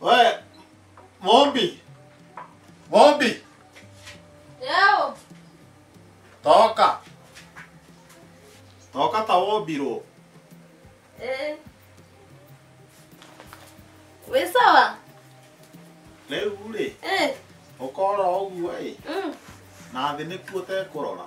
Wewe Mombi. Mombi, Leo toka. Toka tawobiro. eh, we sawa Rĩu rĩ, eh, ũkora ũguo ĩ, mm, na thĩ nĩkuo tekũrora.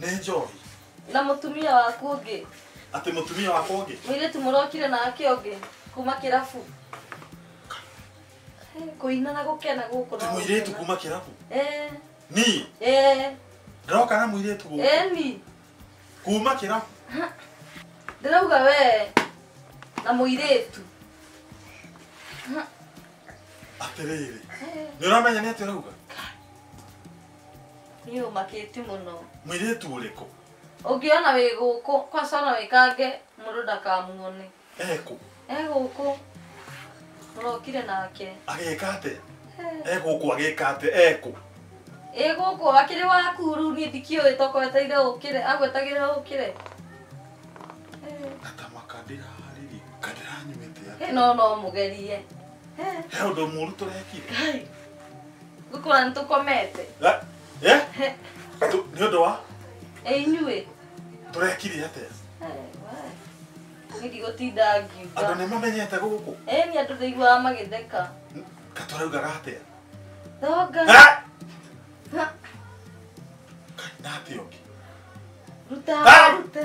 nĩ njohi na mũtumia waku ũngĩ atĩ mũtumia wakwa ũngĩ mũirĩtu mũrokire nake ũngĩ kuma kĩrabu Eh, kũina na gũkena gũkũ atĩ no mũirĩtu gũkena. kuma kĩrabu Eh, ni eh, ndoka na mũirĩtu gũkũ eh, ni kuma kĩrabu ndĩrauga we na mũirĩtu atĩrĩrĩ nĩ ũramenya nĩ atĩ ũrauga Niĩ ũmakĩti mũno. Mwĩirĩtu ũrĩkũ? Ũngĩona wĩ gũkũ, kwanza ona wĩkange mũndũ ndakamuone. Ekũ? E gũkũ. Mũrokire nake. Agĩka atĩa? E gũkũ agĩka atĩa? Ekũ? Ĩ gũkũ akĩrĩ waku rĩu niĩ ndikĩũĩ toka wetereire ũkĩre, agwetagĩrĩra ũkĩre. Ngatamaka ndĩrarĩrĩ, ka ndĩranyuĩte atĩa? Ĩ no no mũgerie. He ũndũ mũru tũrekire? gũkora nĩ tũkomete La- eh? Tu- nĩ ũndũ wa ĩ inyuĩ tũrekire atĩa nĩ ndigũtinda andũ ngiuga nĩ mamenyete gũkũ ĩ nĩ andũ ndaiguaga magĩtheka katũraugaga atĩa thonga Ah! Ha, na atĩa ũngĩ ruta Ah! rute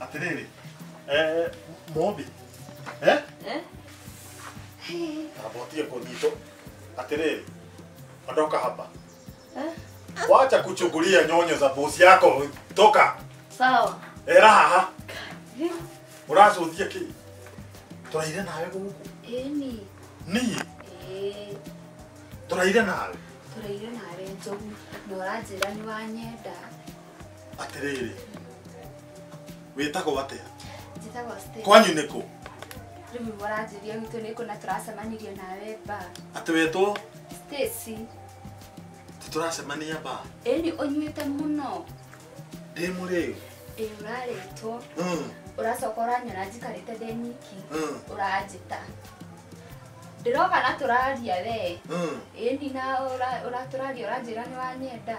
Atĩrĩrĩ, eh, mũmbi, eh? Eh? Tambotie kũnyitwo. Atĩrĩrĩ, ondoka hapa. Eh? Wacha kuchungulia nyonyo za bosi yako, toka. Sawa. Era haha. Eh, Ũracuthia kĩ? Tũraire nawe gũkũ. eh, ni. Niĩ Eh, tũraire nawe. tũraire nawe njogu na ũranjĩra nĩ wanyenda atĩrĩrĩ wĩtagwo atĩa njĩtagwo Stella. kwanyu nĩ kũ rĩu nĩguo ũranjĩria gwitũ nĩ kũ na tũracemanirie nawe mba atĩ wetwo Stacy tũracemania ba ĩni ũnyuĩte mũno ndĩ mũrĩu ĩ ũrarĩtwo Mm, ũracoka ũranyona njikarĩte ndĩ nyiki mm, ũranjĩta ndĩroka na tũraria wee mm. ĩni na ũra- ũratũraria ũranjĩra nĩ wanyenda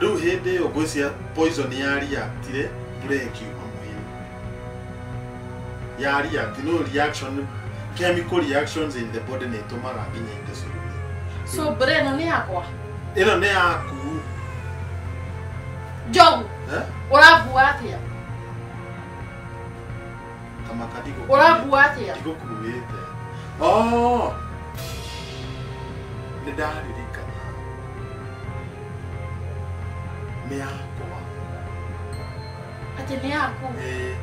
rĩu hĩndĩ ĩyo ngwĩcia poison ya react rĩ mbura ĩkiuma mwĩrĩ ya react no reaction chemical reactions in the body nĩ ĩtũmaga nginya indo cirume so mbura ĩno nĩ yakwa ĩno nĩ yaku njogu eh? ũrambua atĩa kamaka ndiko ũrambua atĩa ndikukuĩte oh nĩ ndaririkana nĩ yakwa atĩ nĩ yaku Eh,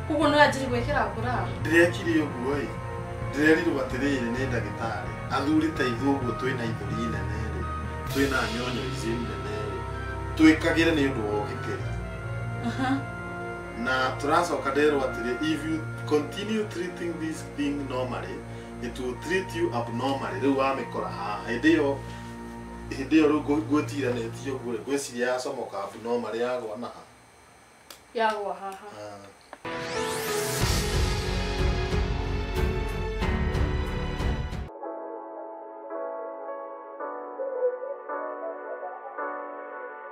koguo no yanjiri gwĩkĩra ngũra ndĩrekire ũguo ĩ ndĩrerirwo atĩrĩrĩ nĩ ndagĩtarĩ athuri ta ithuĩ ũguo twĩ na ithũri nene rĩ twĩ na nyonyo ici nene rĩ twĩkagĩre nĩ ũndũ wa ũgitĩri na tũracoka nderwo atĩrĩ if you continue treating this thing normally it will treat you abnormally rĩu wamĩkora haha hĩndĩ ĩyo hĩndĩ ĩyo rĩu ngũ- ngwĩtiranĩtie ũguo rĩ ngwĩciria yacomoka abnormally yagwa na ha yagwa haha Ah.